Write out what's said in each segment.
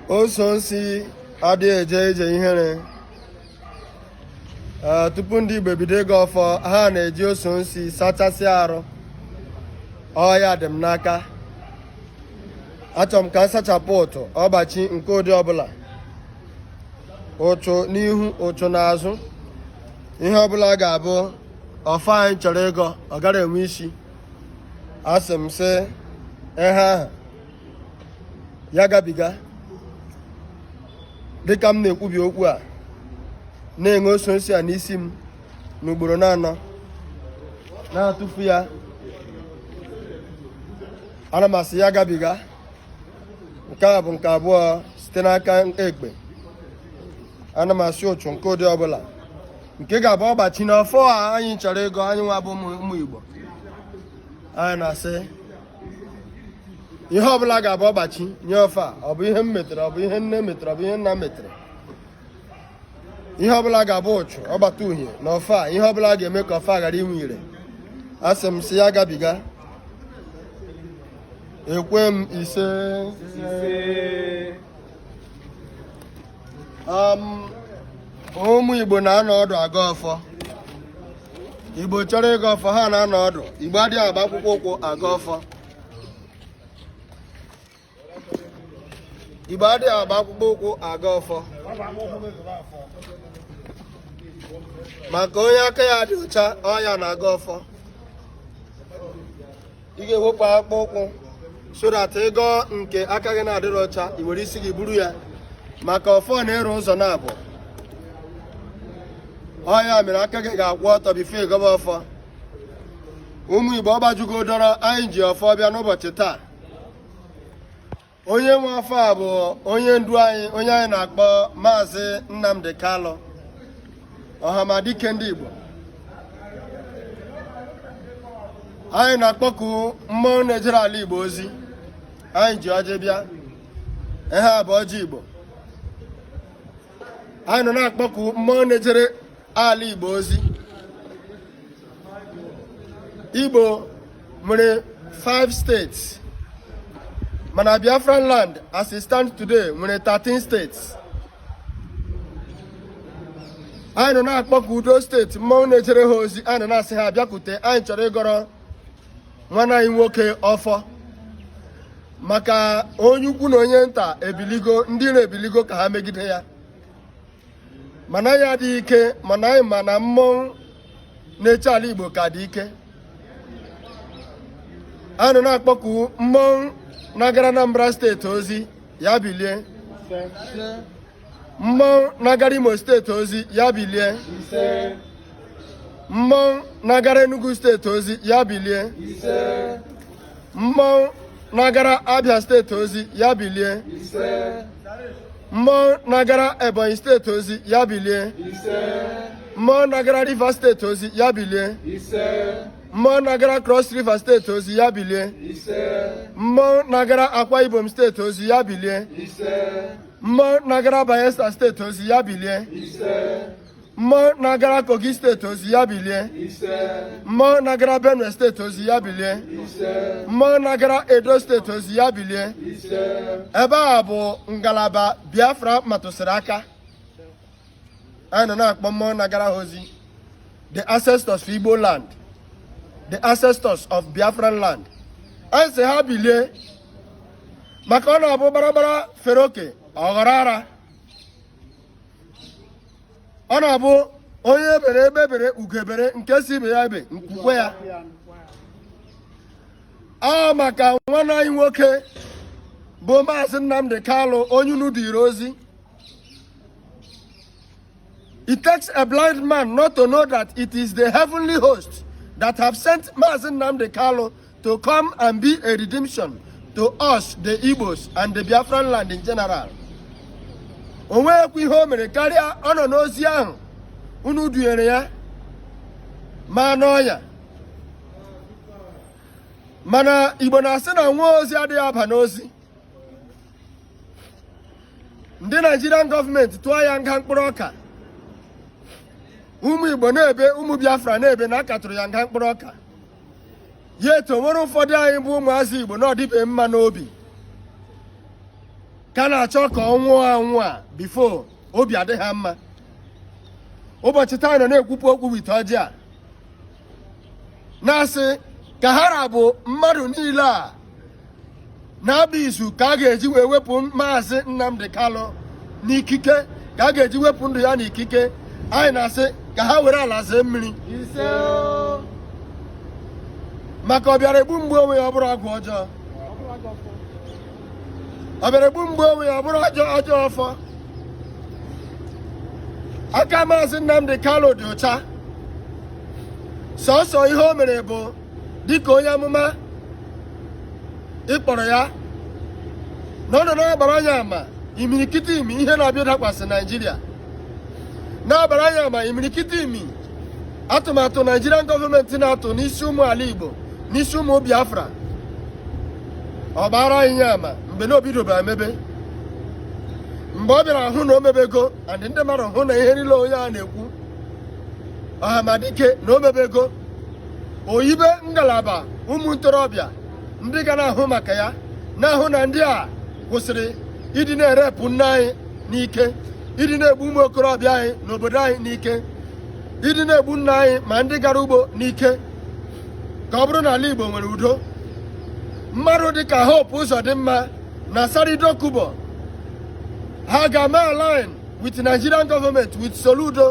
ose ọjị adịghị eje ije ihere eh, tupu ndị Igbo ebido ịgọ ọfọ ha na-eji ose ọjị sachasị arụ ọ ya dị m n'aka achọrọ m ka m sachapụ ụchụ ọgbachi nke ụdị ọbụla ụchụ n'ihu ụchụ n'azụ ihe ọbụla ga-abụ ọfọ anyị chọrọ ịgọ ọ ghara inwe isi asị m sị ihe ahụ ya gabiga dịka m na-ekwubi okwu a na-enwe ose ọjị a n'isi m n'ugboro na-anọ na-atụfu ya ana m asị ya gabiga nke a bụ nke abụọ site n'aka ekpe ana m asị ụchụ nke ụdị ọbụla nke ga-abụ ọgbachi n'ọfọ a anyị chọrọ ịgọ anyị nwa bụ ụmụ Igbo anyị na-asị ihe ọbụla ga-abụ ọgbachi nye ọfọ a ọ bụ ihe m metere ọ bụ ihe nne metere ọ bụ ihe nna metere ihe ọbụla ga-abụ ụchụ ọgbata uhie na ọfọ a ihe ọbụla ga-eme ka ọfọ a ghara inwe ire asị m sị ya gabiga ekwe m ise um, ụmụ Igbo na-anọ ọdụ agọ ọfọ Igbo chọrọ ịgọ ọfọ ha na-anọ ọdụ Igbo adịghị agba akpụkpọ ụkwụ agọ ọfọ Igbo adịghị agba akpụkpọ ụkwụ agọ ọfọ maka onye aka ya dị ọcha ọ ya na-agọ ọfọ ị ga-ewepụ akpụkpọ ụkwụ so that ị gọọ nke aka gị na-adịrọ ọcha i were isi gị buru ya maka ọfọ na-ere ụzọ naabọ ọ ya mere aka gị ga-akwụ ọtọ before ị gọba ọfọ ụmụ igbo ọgbajugo dọrọ anyị ji ọfọ bịa n'ụbọchị taa onye nwe ọfọ a bụ onye ndu anyị onye anyị na-akpọ maazị Nnamdi Kalụ ọhamadike ndị Igbo anyị na-akpọku mmụọ na-ejere ala Igbo ozi anyị ji ọjị bịa ihe a bụ ọjị Igbo anyị nọ na-akpọku mmụọ na-ejere ala igbo ozi igbo nwere 5 states mana biafran land as e stand today nwere 13 states anyị nọ na-akpọku those state mmụọ na-ejere ha ozi anyị nọ na-asị ha bịakwute anyị chọrọ ịgọrọ nwanne anyị nwoke ọfọ maka onye ukwu na onye nta ebiligo ndị na-ebiligo ka ha megide ya mana ha dị ike mana anyị ma na mmụọ na-eche ala Igbo ka dị ike a nọ na-akpọku mmụọ na-agara Anambra steeti ozi ya bilie mmụọ na-agara Imo steeti ozi ya bilie mmụọ na-agara Enugu steeti ozi ya bilie mmụọ na-agara abịa steeti ozi ya bilie mmụọ na-agara ebonyi steeti ozi ya bilie mmụọ na-agara rivers steeti ozi ya bilie mmụọ na-agara cross river steeti ozi ya bilie mmụọ na-agara akwa ibom steeti ozi ya bilie mmụọ na-agara bayelsa steeti ozi ya bilie mmụọ na-agara kogi steeti ozi ya bilie mmụọ na-agara benue steeti ozi ya bilie mmụọ na-agara edo steeti ozi ya bilie ebe a bụ ngalaba biafra metụsịrị aka anyị nọ na-akpọ mmụọ na-agara ha ozi the ancestors of igbo land the ancestors of biafran land anyị sị ha bilie maka ọ na-abụ gbaragbara fere oke ọ ghọrọ ara ọ na-abụ onye ebere egbe ebere ugo ebere nke sị ibe ya ebe nku kwaa ya maka nwanne anyị nwoke bụ maazị Nnamdi Kalụ onye unu duru ozi It takes a blind man not to know that it is the heavenly host that have sent Maazị Nnamdi Kalụ to come and be a redemption to us the Igbos and the Biafran land in general o nweghịkwa ihe o mere karịa ọ nọ n'ozi ahụ unu dunyere ya ma n'ọnya mana Igbo na-asị na nwa ozi adịghị aba n'ozi ndị Naịjirian gọọmenti tụọ ya nga mkpụrụ ọka ụmụ Igbo na-ebe ụmụ Biafra na-ebe na a ka tụrụ ya nga mkpụrụ ọka yet o nwere ụfọdụ anyị bụ ụmụazị Igbo na ọ dịbeghị mma n'obi ka na-achọ ka ọ nwụọ anwụ before obi adị ha mma ụbọchị taa anyị nọ na-ekpupụ okpu wete ọjị a na-asị ka ha ra bụ mmadụ niile a na-agba izu ka a ga-eji wee wepụ maazị Nnamdi Kalụ n'ikike ka a ga-eji wepụ ndụ ya n'ikike anyị na-asị ka ha were ala zee mmiri maka ọ bịara egbu m gbuo onwe ya ọ bụrụ ọgwụ ọjọọ ọ bịara egbu m gbuo onwe ya ọ bụrụ ọjọọ ọfọ aka maazị Nnamdi Kalụ dị ụcha sọsọ ihe o mere bụ dịka onye amụma ị kpọrọ ya na ọ nọ na-agbara anyị ama imirikiti imi ihe na-abịa dakwasị naijiria na-agbara anyị ama imirikiti imi atụmatụ naijirian gọọmenti na-atụ n'isi ụmụ ala igbo n'isi ụmụ biafra ọ gbara anyị ya ama mgbe na o bidobe emebe mgbe ọ bịara hụ na o mebego and ndị mmadụ hụ na ihe niile onye a na-ekwu ọhamadike na o mebego o yibe ngalaba ụmụ ntorobịa ndị ga na-ahụ maka ya na-ahụ na ndị a kwụsịrị ịdị na-erepụ nne anyị n'ike ịdị na-egbu ụmụ okorobịa anyị n'obodo anyị n'ike ịdị na-egbu nna anyị ma ndị gara ugbo n'ike ka ọ bụrụ na ala Igbo nwere udo mmadụ dịka Hope Uzodimma na Asari Dokubo ha gaa mee align with Nigerian government with Soludo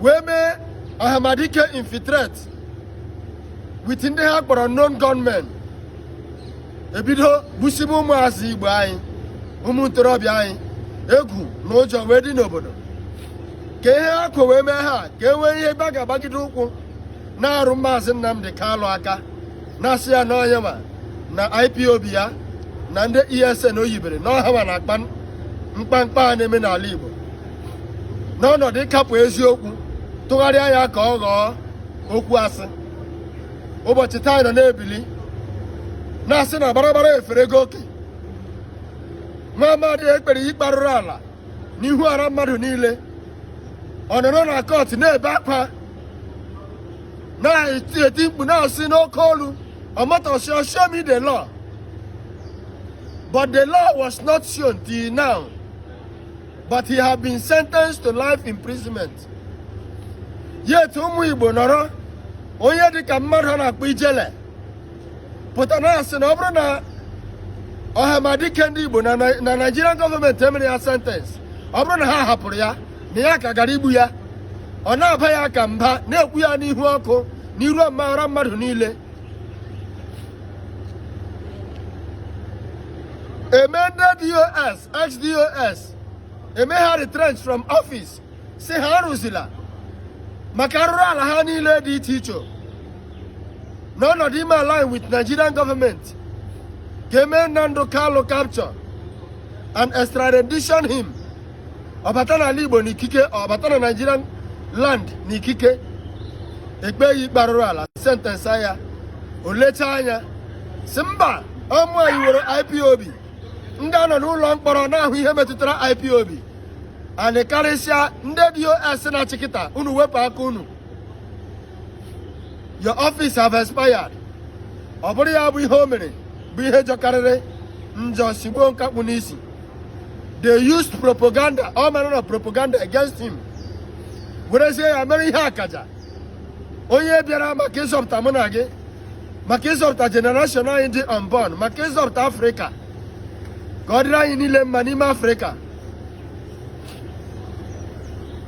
wee mee ọhamadike infiltrate with ndị ha kpọrọ unknown gunmen e bido gbusibe ụmụazị igbo anyị ụmụ ntorobịa anyị egwu na ụjọ wee dị n'obodo ka ihe ha kwo wee mee ha ka e nwee ihe ebe a ga-agbagide ụkwụ na-arụ maazị Nnamdi Kalụ aka na-asị ya na ọ ya nwa na IPOB ya na ndị ESN o yibere na ọ ha nwa na-akpa mkpamkpa a na-eme n'ala Igbo n'ọnọdụ ịkapụ eziokwu tụgharịa ya ka ọ ghọọ okwu asị ụbọchị taa anyị nọ na-ebili na-asị na barabara eferego oke nwa amadị e kpere ikpe arụrụ ala n'ihu ọra mmadụ niile ọ nọrọ na court na-ebe akwa na-eti eti mkpu na-asị n'oke olu Omotosho show me the law but the law was not shown till now but he had been sentenced to life imprisonment yet ụmụ Igbo nọrọ onye dịka mmadụ a na-akpọ Ijele pụta na-asị na ọ bụrụ na ọhamadike ndị Igbo na Naịjirian gọọmenti emere ya sentence ọ bụrụ na ha hapụrụ ya na ya ka gara igbu ya ọ na-aba ya ka mba na-ekwu ya n'ihu ọkụ n'iru ọmara mmadụ niile e mee ndị DOS HDOS e mee ha retrench from office sị ha arụzila maka arụrụ ala ha niile dị iche iche na ọnọdụ ime align with Nigerian gọọmenti ka e mee Nnamdi Kanu capture and extradition him ọ bata n'ala Igbo n'ikike ọ bata na Nigerian land n'ikike e kpee ya ikpe arụrụ ala sentence ya o lecha anya sị mba ọ bụ anyị nwere IPOB ndị a nọ n'ụlọ mkpọrọ na-ahụ ihe metụtara IPOB anyị karịsịa ndị DOS sị na chịkịta unu wepụ aka unu your office have expired ọ bụrụ ya bụ ihe o mere bụ ihe jọkarịrị njọ sigbuo nkakpu n'isi they used propaganda all manner of propaganda against him werezie ya mere ihe akaja onye bịara maka ịzọpụta mụ na gị maka ịzọpụta jenereshọn anyị dị unborn maka ịzọpụta afrịka ka ọ dịrị anyị niile mma n'ime afrịka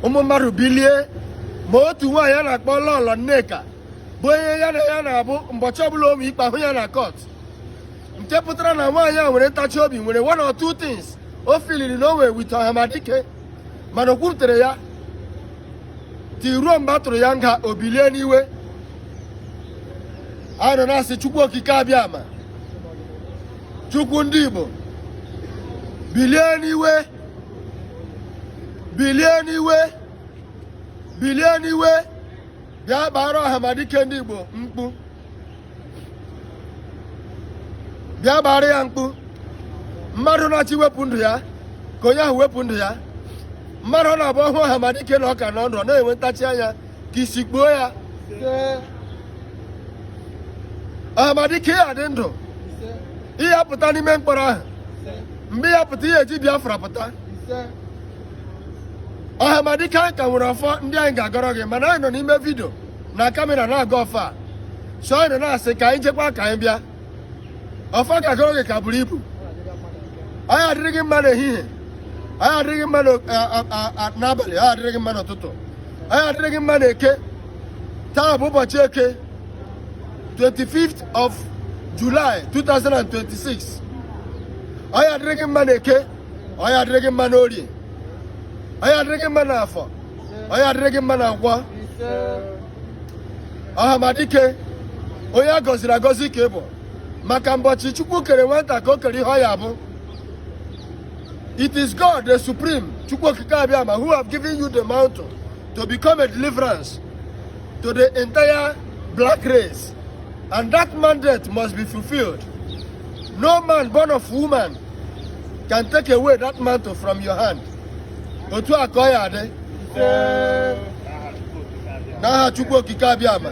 ụmụ mmadụ bilie ma otu nwaanyị a na-akpọ lọlọ nneka bụ onye ya na ya na-abụ mbọchị ọbụla o nwe ikpe a hụ ya na kọt nke pụtara na nwaanyị a nwere ntachi obi nwere one or two things o filiri na o nwe with ọhamadike mana o kwurutere ya ti ruo mgbe a tụrụ ya nga o bilie n'iwe a nọ na-asị chukwu okike abịama chukwu ndị igbo bilie n'iwe bilie n'iwe bilie n'iwe bịa gbaara ọhamadike ndị igbo mkpu bịa gbaara ya mkpu mmadụ na-achọ iwepụ ndụ ya ka onye ahụ wepụ ndụ ya mmadụ ọ na-abụ ọ hụ ọhamadike na ọ ka nọ ndụ ọ na-enwe ntachi anya ka isi kpuo ya ọhamadike ị ya adị ndụ ị ya apụta n'ime mkpọrọ ahụ mgbe ị ya apụta ị ya eji biafra pụta ọhamadike anyị ka nwere ọfọ ndị anyị ga-agọrọ gị mana anyị nọ n'ime vidio na kamera na-agọ ọfọ a so anyị na-asị ka anyị jekwa ka anyị bịa ọfa ka a gọọ nke ka buru ibu ọ ya adịrị gị mma n'ehihie ọ ya adịrị gị mma n'abalị ọ ya adịrị gị mma n'ụtụtụ ọ ya adịrị gị mma n'eke taa bụ ụbọchị eke 25th of July 2026 ọ ya adịrị gị mma n'eke ọ ya adịrị gị mma n'orie ọ ya adịrị gị mma n'afọ ọ ya adịrị gị mma na nkwọ ọhamadike onye a gọziri agọzi ka ị bụ maka mbọchị chukwu kere nwata ka o kere ihe ọ ya abụ it is god the supreme chukwu okike abịama who have given you the mantle to become a deliverance to the entire black race and that mandate must be fulfilled no man born of woman can take away that mantle from your hand otu a ka ọ ya adị n'aha Chukwu Okike Abịama